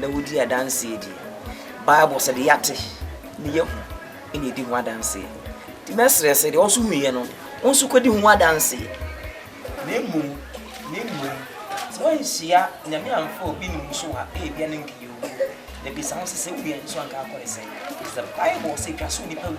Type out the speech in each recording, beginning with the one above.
na wodi adanse de, Bible sɛ deɛ yɛate ne yɛahu na ɛdi ho adanse. Nti mɛsrɛ sɛ deɛ wo nso huiɛ no, wo nso kɔdi ho adanse. Na mmom, na mmom, sɛ woanhyia Nyame amfa obi ne mu so a, ebia na nka yɛwuo. Mɛbisa wo sɛ, sɛ wowie a, nso anka akɔ ne sɛn? Is the Bible sɛ ɛtwa sɛ onipa wu?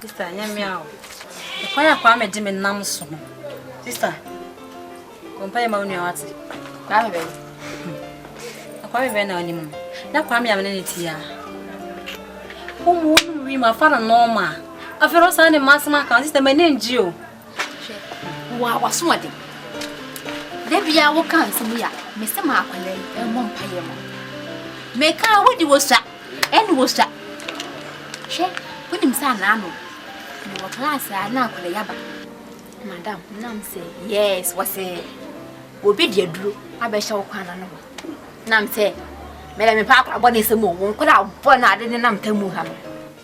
Sister, nyɛ me a o. Ɛkwan a Kwame de me nam so no. Sister, kɔmpa yɛ ma wo nua wate. Kwame bɛn. Hmm. Kwame bɛn na ɔnim no. Na Kwame amene ne ti a. Wo mu wo wi ma fa no nɔɔma. Afei no saa ne masema kan sister m'ani ngye o. Hwɛ, wo a w'asoɔden! Da biara woka nsɛm yi a mese ma akwadaa yi mmɔ mpaeɛ ma wo. Meka a wodi wo sua, ɛne wo sua. Hwɛ, wonim sɛ anaa no mewɔ class a na akwadaa yi aba. Madam, nam sɛ yes, wɔsɛ obi de aduro abɛhyɛ wo kwan ano hɔ. Nam sɛ mɛdɛ mepɛ akwadaa bɔ ne nsɛm o, wo nkwadaa bɔ no ade ne nam tamu ha no.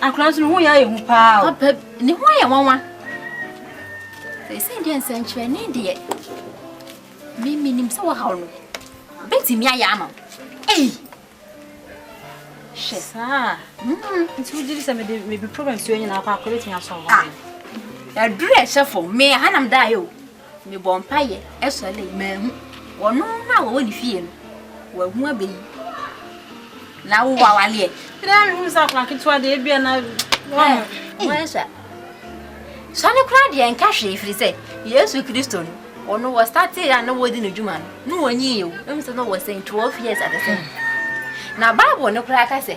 Akora nso ne ho yɛ ayɛ hu paa o. Papa ne ho ayɛ nwanwa. Ɛsɛ deɛ nsɛnkyerɛnne deɛ me menim sɛ wahaw no bɛtumi ayɛ ama wo. Ei! Hyɛ. Saa. Mm-hmm. Nti wogye di sɛ mede mede problem si onyina akɔ akɔ bɛtumi asɔ hɔ. Ah. Aduru ɛhyɛ fam. Me ha nam daeɛ o. Mebɔɔ mpaeɛ sɔree, manhu. Wɔno a wɔwɔ ne fie no, wahu abɛ yi. Na wo wawaleɛ. Ɛdɛ mehunu sɛ akora ketewa deɛ ebia na wɔn. Wɔn sɛ sɔne koraa deɛ nka hwee firi sɛ Yesu Kristo no wɔno wɔ startee a na wɔdi no dwuma no na wɔnyi yɛ o. Ɛmu sɛ na wɔ sɛ 12 years ate sɛ. Na Bible no koraa ka sɛ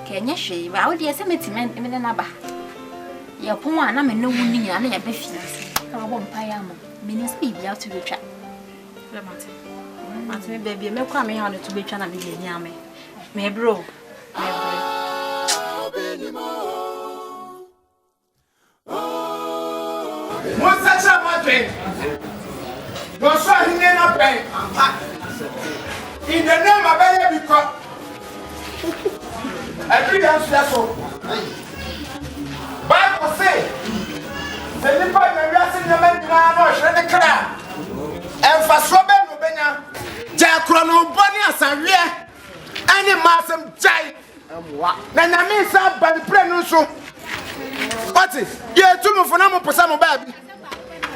Nka ɛnyɛ hwee ba wo deɛ sɛ mɛtumi me ne no aba yɛpɔn a na me ne wo no nyinaa na yɛbɛ fie ase na wabɔ mpaeɛ ama menim sɛ biribia to bɛtwa mate me baabi a mɛkɔ a mehaw no to bɛtwa na mede ani ame mebrɛ o mebrɛ Monsakyera mo adwen na ɔsoro ahenni no abɛn ampa in the name abɛyɛ bi kwa ɛduru yɛn so yɛ so bible se sɛ nipa nya wiase nneɛma nyinaa na ɔhwere ne kra ɛmfasoɔ bɛn na ɔbɛnya gyae korɔ no bɔ ne asaweɛ ɛne mmaa asɛm gyae mmoa na nyame nsa aba ne pira no nso ɔte yɛtu mo fo na mo po sɛ mo baabi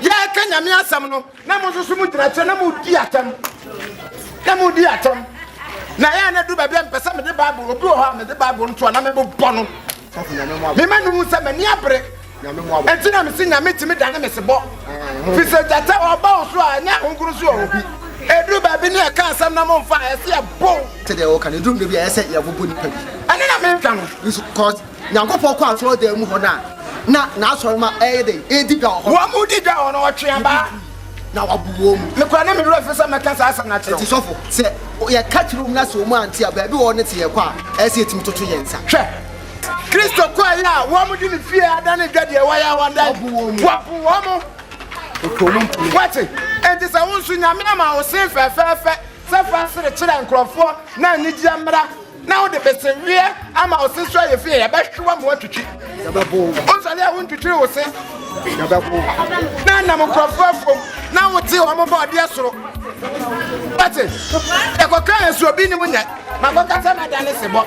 yɛka nyame asɛm no na mo nso so mo gyina kyɛ na mo di atɛm na mo di atɛm na yɛn na du baabi a mpɛ sɛ mede bible obi wɔ hɔ a mede bible no to a na mebobɔ no mema no hu sɛ m'ani abere Enti na mese Nyame tumi dane mesebɔ Firi sɛ gyata ɔba wo so a ɛnyɛ ahonkrono so ɔwɔ bi Ɛduru baabi ne ɛka asɛm na momfa a ɛse ɛbow Te deɛ woka no ɛduru baabi a ɛyɛ sɛ yɛbobɔ nipa bi Ɛno na metwa no nso cos Nyankopɔn kɔ asɔre dan mu hɔ no a na n'asɔre ma ɛyɛ dɛn ɛredi dwa wɔ hɔ Wɔn mo di dwa wɔ hɔ no ɔtwe abaa na wabu wɔn mu Mekura ne me werɛ fi sɛ mɛka saa asɛm no akyerɛ wo Enti sɔfo sɛ yɛka kyerɛ wɔn na sɛ wɔn ante a baabi wɔ hɔ no te yɛkɔ a ɛyɛ sɛ yɛtumi toto yɛn nsa Hwɛ! Kristo kɔe a wɔde ne fie ada ne dwa deɛ wɔyɛ wɔdan wɔpo wɔn mo wɔte enti sɛ wo nso nyame ama wo sen fɛfɛɛfɛ sɛ fa sere kyerɛ nkurɔfoɔ na anigyeɛ mmara na wode beseweɛ ama wo se so ayɛ fie yɛbɛhwe wɔ mo atwitwi wosɔre a wontwitwiri wo se na nam nkurɔfoɔ afom na wote wɔn bɔ ɔdeɛ soro wɔte yɛkɔka yɛ so obi ne mu nyɛ makɔkasa na da ne se bɔ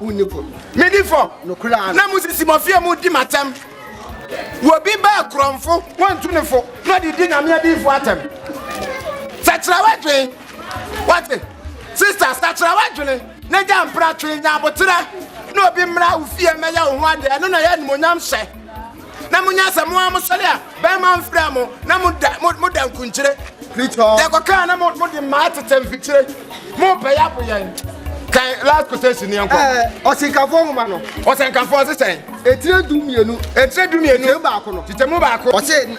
Wonni fɔ. Medi fɔ. Nokorɛ ara. Na mosisi mɔfeɛ mu di m'atɛm. Wɔbi ba akorɔmfo, wɔntu ne fo, na ɔde di Nyame adiyifoɔ atɛm. Sakyera w'adwene. Wate? Sista, sakyera w'adwene, na gya mpratwe, nya aboterɛ, na obi mmra wo fie mmɛyɛ wo ho adeɛ. Ɛno na ɛyɛ animuonyamhyɛ. na monya sɛ mo a mosɔre a bɛrima mfra mo na moda moda nkunkyire deɛ kɔkaa na mode mmaa tetɛ mfikyire mopɛyɛ apo yɛn kan last quotation ni ɛnkɔ. ɛɛ ɔsinkafoɔ nwoma no. ɔsinkafoɔ ɔsesɛn. etire du mmienu. etire du mmienu. titɛmu baako no. titɛmu baako. ɔsɛ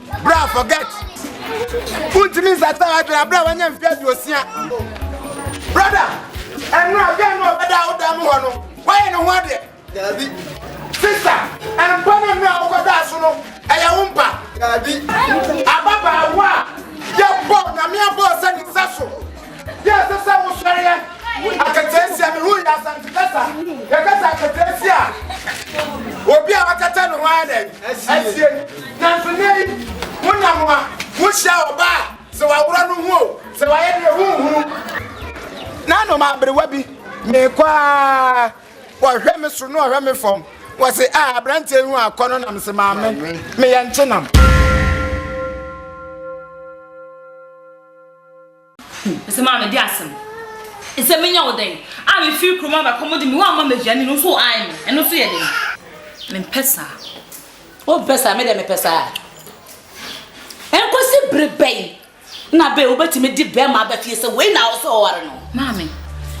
Bra forget. Untimi nsata adwene abere a wanya mfe aduosia. Brother, ɛno a bɛn no ɔbɛda a woda no hɔ no, woayɛ ne ho adeɛ. Daabi. Sister, ɛmpa no mmerɛ a wokɔdaa so no, ɛyɛ wo mpa. Daabi. Ababaawa a yɛbɔ nyame abɔɔ sɛ ne nsa so Deɛ ɛsɛ sɛ wosɔre yɛ. Akataasia, me ho yɛ Asante kasa. Yɛkasa akataasia a, obi a wakata ne ho ayɛ dɛn? Asie. Nanso nnɛ yi, wonam a, wohyia ɔbaa a, sɛ waworɔ no ho o, sɛ wayɛ deɛ wonhunu. Nanom aberewa bi, mekɔ ara, wɔhwɛ me soro na wɔhwɛ me fam. Wɔse, ah, aberanteɛ yi ho akɔ no na mese, maame, meyɛ nkyenam. Ese maa mede asem ese menya wo dɛn a mefiri kurom aba kɔm de me wo ama m'aduane no nso ae me ɛno nso yɛ dɛn mempɛ saa. Wompɛ saa me de mepɛ saa. Ɛnkɔsi bere bɛn na bɛɛ wobɛtumi de bɛrima aba fie sɛ wei na ɔsɛ ɔware no. Maame,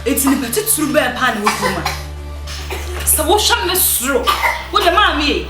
eti nipa titiriw bɛn paa na ɛwɔ kurom a sɛ wohwɛ me soro wo de maame e.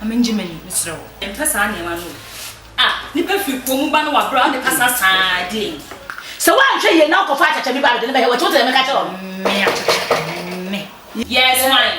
Ma me ngye m'ani, mesrɛ wo. Mempɛ saa nneɛma no o. Ah, nipa firi kurom mu ba na wabrɛ a, ɔde kasa saa a, ɛdeɛn? Sɛ woanhwɛ yie na wokɔfa akyakya bi ba a, mede no bɛyɛ w'akyi, wote deɛ meka kyerɛ wo no? Me akyakya, me. Yes, wine.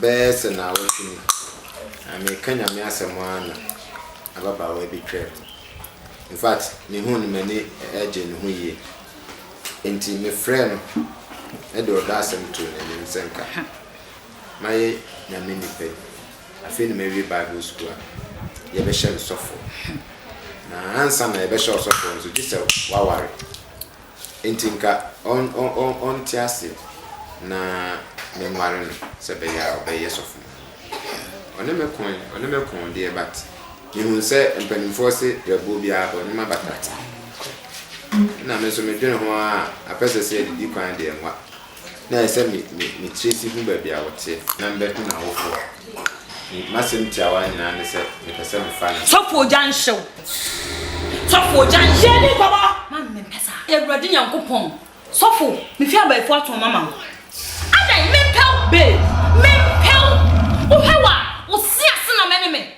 bɛyɛ sɛ naawɔtwe ni, na mereka Nyame asɛm ara na ababaawa bi twaa mu. In fact, mehuu no m'ani gyee ne ho yie. Enti mefrɛɛ no de ɔdɔ asɛm too n'anim sɛ nka mayɛ Nyame nipa bi. Afei na mawie Bible sukuu a yɛbɛhyɛ no sɔfoɔ. Na ansa na yɛbɛhyɛ ɔsɔfoɔ no nso, gye sɛ waware. Enti nka ɔnte ase na menware no sɛ ɛbɛyɛ a ɔbɛyɛ sɔfo. Ɔne me ko ɛ, ɔne me ko deɛ but mehunu sɛ mpanimfoɔ se berɛboɔ biara bɔ ne ma bata. Ɛnna me nso medwene ho ara a, apɛsɛsɛ adidi kwan deɛ nwa. na ayɛ sɛ me me me tiri si hu baabi a ɔteɛ na me bɛko n'awofo a. Me m'asɛm tiawa nyinaa ne sɛ me pɛ sɛ me fa ne. Sɔfo ogya nhyew. Sɔfo ogya nhyew. Hyɛ ne nkɔmɔ. Mami me mpɛ saa. Awurade Nyankopɔn. Sɔfo me fi abayifoɔ ato ɔma ma wo. Adɛn me mpɛw. Babe me mpɛw. Wo hwɛ wa wo se ase na mɛ ne me.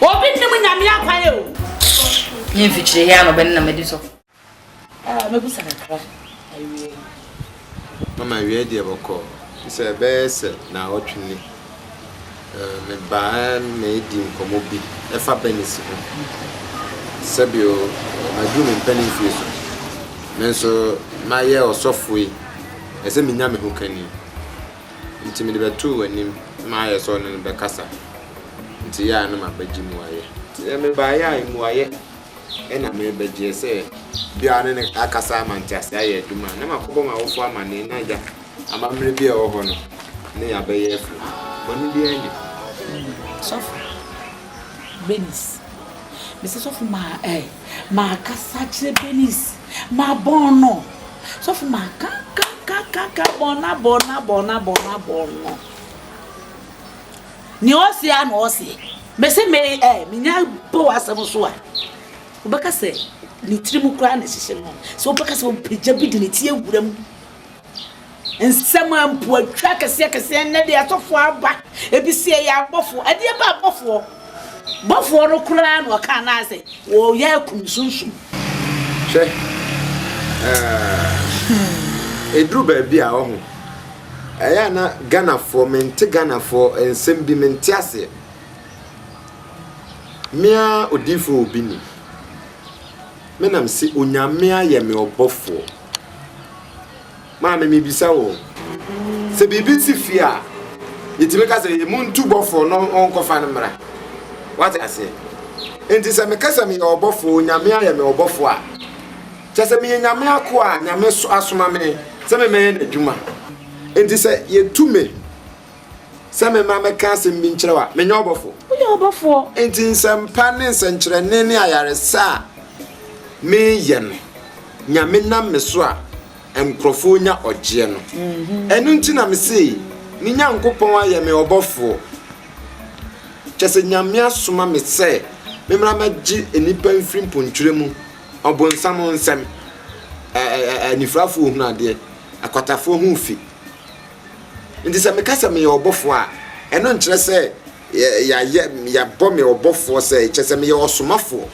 Obi nnim nyame akwan o. Ne mfikyire hia na ɔbɛne na madi so. Ah, mɛbusa kakra awie. Mama awie deɛ bɔkɔ. Sɛ ɛbɛyɛ sɛ na ɔtwe ni. Mebaa na ɛdi nkɔmmɔ bi ɛfa Bernice ho. Sɛbio, maduru me mpɛne mfie so. Me nso mayɛ ɔsɔfoɔ yi. Ɛsɛ menya me ho kani. Nti mede bɛtoo w'anim na mayɛ sɛ ɔne no bɛkasa, nti yɛ a na mabɛgye mmuaeɛ. Sɛ mebaeɛ a mmuaeɛ na merebɛgyeɛ, sɛ bi a ne no akasa ama nteaseɛ ayɛ adum a, na makɔbɔ m'awofoɔ amanneɛ na agya amammerɛ bi a ɛwɔ hɔ no ne yɛn abɛyɛ afiri. Bɔne biara nni ho. Sɔfo Bernice, Mese sɔfo maa ɛɛ, makasa akyerɛ Bernice Mabɔn no. Sɔfo makankankankankan bɔn no abɔn no abɔn no abɔn no abɔn no. Nea ɔse a na ɔse. Mese me ɛ menya bɔ w'asɛm so a wobɛka sɛ ne tirim koraa na ɛhyehyɛ no sɛ wobɛka sɛ ɔmpagya bi de ne ti awura mu. Nsɛm a mpo atwa akɛseakɛseɛ nnɛ de asɔfoɔ aba, ebi se ɛyɛ abɔfoɔ. Ɛdeɛ ba abɔfoɔ? Bɔfoɔ no koraa na ɔkaa no ara sɛ ɔyɛ akum sunsum. Hwɛ, eh, ɛduru baabi a ɔho, ɛyɛ a na Ghanafoɔ, mente Ghanafoɔ nsɛm bi, mente aseɛ. Me ara odiyifoɔ obi ni, me na mese Onyame ayɛ me ɔbɔfoɔ. Maame, mibisa wo, sɛ biribi si fie a, yɛtumi ka sɛ yɛmu ntu bɔfoɔ no ɔnkɔfa no mmra. Wate aseɛ? Enti sɛ meka sɛ meyɛ ɔbɔfoɔ, Onyame ayɛ me ɔbɔfoɔ a, kyɛ sɛ meyɛ Nyame akoa a Nyame asoma me sɛ memmɛyɛ n'adwuma. Enti sɛ yɛtu me, sɛ memma mɛka asɛm bi nkyerɛ wo a, menyɛ ɔbɔfoɔ? Woyɛ ɔbɔfoɔ. Enti nsɛmpa ne nsɛnkyerɛnne ne ayaresa a meyɛ no, Nyame nam me so a nkurɔfoɔ nya ɔgyeɛ no. Mm-hmm. Ɛno nti na mese, me Nyankopɔn ayɛ me ɔbɔfoɔ. Kyɛ sɛ Nyame asoma me sɛ memmra mɛgye nnipa mfiri mpontwerɛ mu, ɔbonsam nsɛm, anifirafoɔ hunu adeɛ, akwatafoɔ ho fi. Nti sɛ meka sɛ meyɛ ɔbɔfoɔ a, ɛno nkyerɛ sɛ yɛayɛ, yɛabɔ me ɔbɔfoɔ sɛ, kyerɛ sɛ meyɛ ɔsomafoɔ.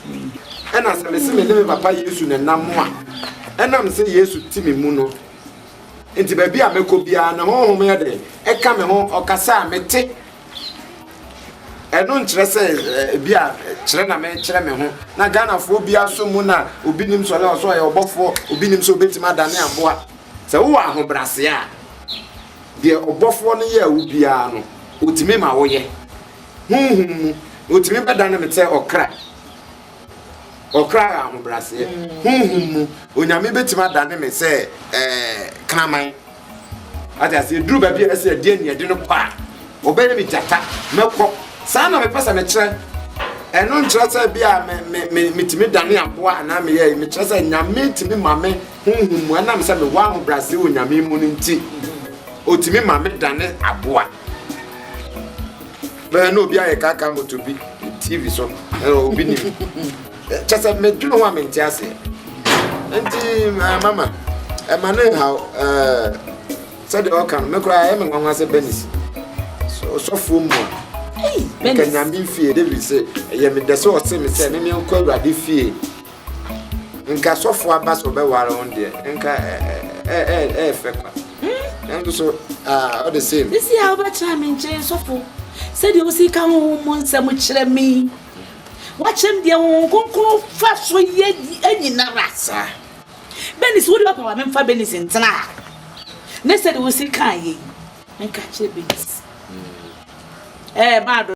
Ɛna sɛ mese me ne me Papa Yesu na ɛnam a, ɛnam sɛ Yesu te me mu no nti baabi a mɛkɔ biara ne honhom yɛ dɛn? Ɛka me ho, ɔkasa a mete. Ɛno nkyerɛ sɛ ebi a kyerɛ na mekyerɛ me ho. Na Ghanafoɔ biara so mu na obi nim sɛ ɔyɛ ɔsɛ ɔyɛ ɔbɔfoɔ, obi nim sɛ obetumi adane aboa. Sɛ wowɔ ahobrɛase a, deɛ ɔbɔfoɔ no yɛɛ wo biara no, ɔtumi ma woyɛ. Honhom mu, ɔtumi bɛdane me sɛ ɔkra. Ɔkra yɛ ahobrɛaseɛ. Honhom mu, Onyame bɛtumi adane me sɛ ɛɛ kraman. Ate aseɛ, duru baabi a ɛsɛ ɛdeɛ ne ɛde no kɔ a, ɔbɛyɛ me gyata, mɛkɔ. Saa na mepɛ sɛ mekyerɛ. Ɛno nkyerɛ sɛ bi a me, me, me, metumi dane aboa anaa meyɛ, mekyerɛ sɛ Nyame tumi ma me honhom mu, ɛnam sɛ mewɔ ahobrɛase wɔ Nyame mu no nti, otumi ma me dane aboa. Bɛyɛ na obi ayɛ kaka moto bi TV so, obi nim. Kyɛ sɛ medwene ho a mente aseɛ. Nti mama, ɛma ne nhaw sɛdeɛ ɔka no, me koraa ɛyɛ me nwanwa sɛ Benis ɔsɔfoɔ mu a nka Nyame fie David sɛ ɛyɛ medɛ sɛ ɔse me sɛ me menkɔ Awurade fie nka sɔfo aba sɛ ɔbɛware wo deɛ nka ɛyɛ fɛ kwa nanso so ɔde same ɛsi a wobɛtena me nkyɛn sɔfo sɛdeɛ wosi ka ho ho mu nsɛm kyerɛ me wakyɛm deɛ wo nkonkron fa so yɛ anyinara saa benis wode ɔpɛ wa memfa benis ntena a ne sɛdeɛ wosi ka yɛ nka kyerɛ benis ɛɛ maado